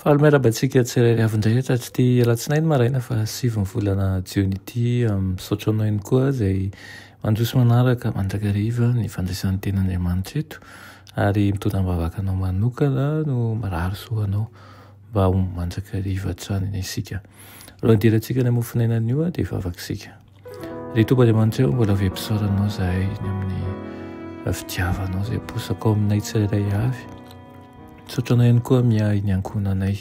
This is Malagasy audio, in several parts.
Faly miarahaba antsika tsirairay avy indray hatratry'ity alatsinainy maraina fa sivy ny volana jiona ity. Misaotra anao ihany koa izay mandroso manaraka mandrakariva ny fandraisan'ny Tenin'Andriamanitra eto ary mitondra am-bavaka anao manokana no mirary soa anao mba ho mandrakariva hatrany isika. Alohan'ny hidirantsika any amin'ny mofon'aina anio dia hivavaka isika. Ry Tompo Andriamanitra eo mbola vempisaoranao zahay ny amin'ny fitiavanao izay posaka ao aminay tsirairay avy misaotra anao ihany koa miahy ny ankohonanay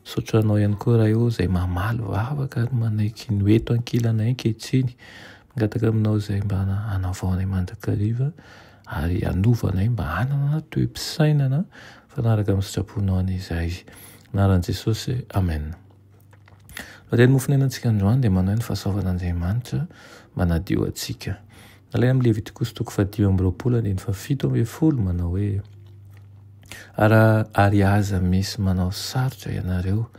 misaotra anao ihany koa raha eo izay mamaly vavaka ary manaiky ny hoe eto ankilanay ankehitriny mangataka aminao izay mba hanavaonay mandrakariva ary hanovanay mba hanana toe-pisainana fanaraka amin'ny sitraponao an'izay anaran'i Jesosy amen Raha dia ny mofo niainantsika androany dia manahy ny fahasoavan'Andriamanitra manadio antsika. Alaina amin'ny Levitikosy toko fahadimy amby roapolo andininy fahafito ambin'ny folo manao hoe Ary, ary aza misy manao sarotra ianareo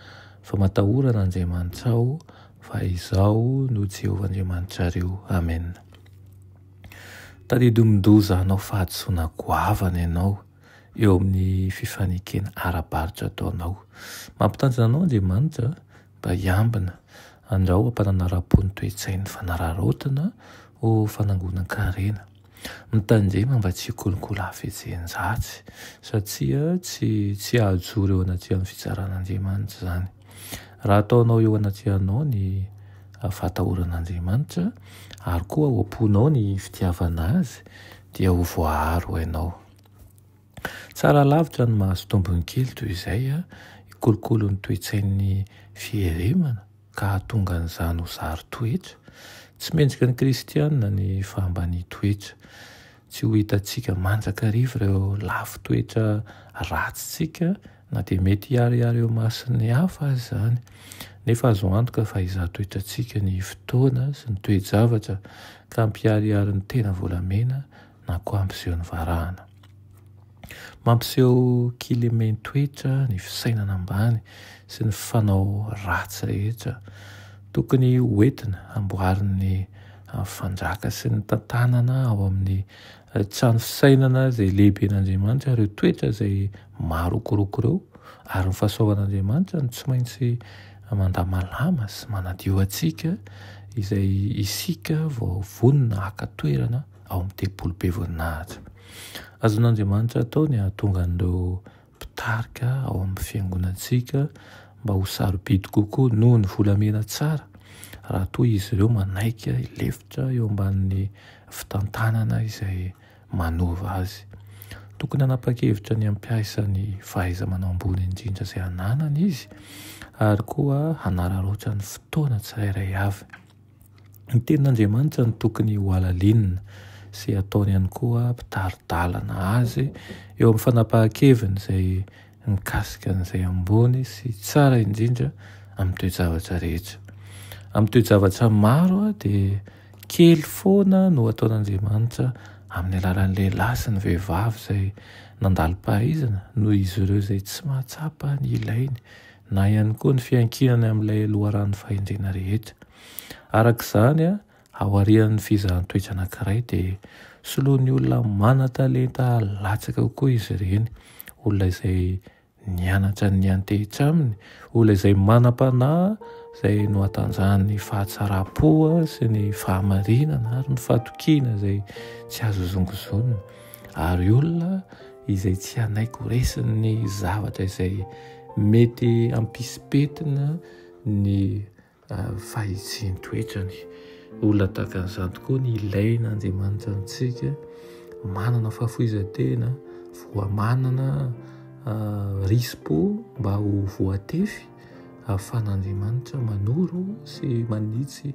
fa matahorana Andriamanitra ao fa izaho no Jehovah Andriamanitrareo. Amena. Tadidio mindoza hanao fahadisoana goavana ianao. eo amin'ny fifanekena ara-barotra ataonao. Mampitanjona anao Andriamanitra mba hiambina andrao am-pananarapony ny toe-tsain'ny fanararaotina ho fanangonan-karena. Mitandrema mba tsy hikolokolo hafetsen-dratsy satria tsy tsy hahajoro eo anatrehan'ny fitsaran'Andriamanitra izany. Raha ataonao eo anatrehanao ny fahatahoran'Andriamanitra ary koa ao am-ponao ny fitiavana Azy dia ho voaaro hainao. Tsara lavitra ny mahazo tombony kely toy izay, hikolokolo ny toe-tsain'ny fierimana ka hahatonga an'izany ho zary toetra. Tsy mendrika ny kristiana ny fahambanian-toetra. Tsy ho hitantsika mandrakariva ireo lafin-toetra ratsintsika Na dia mety hiharihary eo imason'ny hafa aza izany, nefa azo antoka fa hizaha toetrantsika ny fotoana sy ny toe-javatra ka hampiharihary ny tena volamena na koa hampiseho ny varahana. Mampiseho kilemen-toetra ny fisainana ambany sy ny fanao ratsy rehetra. Tokony hoentina hamboarin'ny fanjaka sy ny tantanana ao amin'ny Tsy ny fisainana izay lehiben'Andriamanitra ireo toetra izay marokoroko ireo, ary ny fahasoavan'Andriamanitra no tsy maintsy mandamalama sy manadio antsika izay isika vao vonona haka toerana ao amin'ny tempoly be voninahitra. Azon'Andriamanitra atao ny hahatonga an'ireo mpitarika ao amin'ny fiangonantsika mba ho sarobidy kokoa noho ny volamena tsara raha toa izy ireo manaiky hilefitra eo ambanin'ny fitantanana izay manova azy. Tokony hanapa-kevitra ny hampiasa ny fahaiza-manao ambony indrindra izay ananany izy ary koa hanararaotra ny fotoana tsirairay avy. Ny tenin'Andriamanitra no tokony hohalalinina sy hataony ihany koa mpitari-dalana azy eo amin'ny fanapahan-keviny izay mikasika an'izay ambony sy tsara indrindra amin'ny toe-javatra rehetra. Amin'ny toe-javatra maro dia kely foana no ataon'Andriamanitra amin'ny alalan'ny lehilahy sy ny vehivavy izay nandalo-pahaizana noho izy ireo izay tsy mahatsapa ny ilainy na ihany koa ny fiankinany amin'ilay loharanon'ny fahendrena rehetra. Araka izany, aorian'ny fizahan-toetra anankiray dia soloan'ny olona manan-talenta latsaka kokoa izy ireny, olona izay nianatra ny antehitra aminy, olona izay manam-panahy izay nohatanjahan'ny fahatsaram-po sy ny fahamarinana ary ny fatokiana izay tsy azo zongozonina. Ary olona izay tsy hanaiky ho resin'ny zavatra izay mety hampisy petina ny fahitsian-toetrany. Olona tahaka an'izany tokoa ny ilaina Andriamanitra amintsika, manana fahafoizan-tena, voa manana risi-po mba ho voatefy ahafahan'Andriamanitra manoro sy manitsy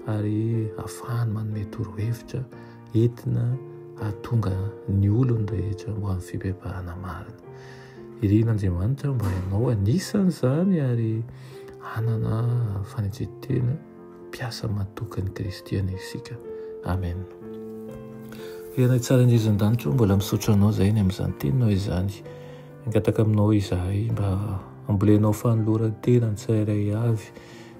ary ahafahany manome torohevitra. entina hahatonga ny olony rehetra ho amin'ny fibebahana marina. Irina Andriamanitra mba ianao anisan' izany ary hanana fanetren-tena mpiasa matokan'i Kristy anie isika. Amen. Firenay tsara indrindra izan-danitra mbola misaotra anao izay ny amin'izany teninao izany. Angataka aminao izahay mba ambolenao fanoloran-tena ny tsirairay avy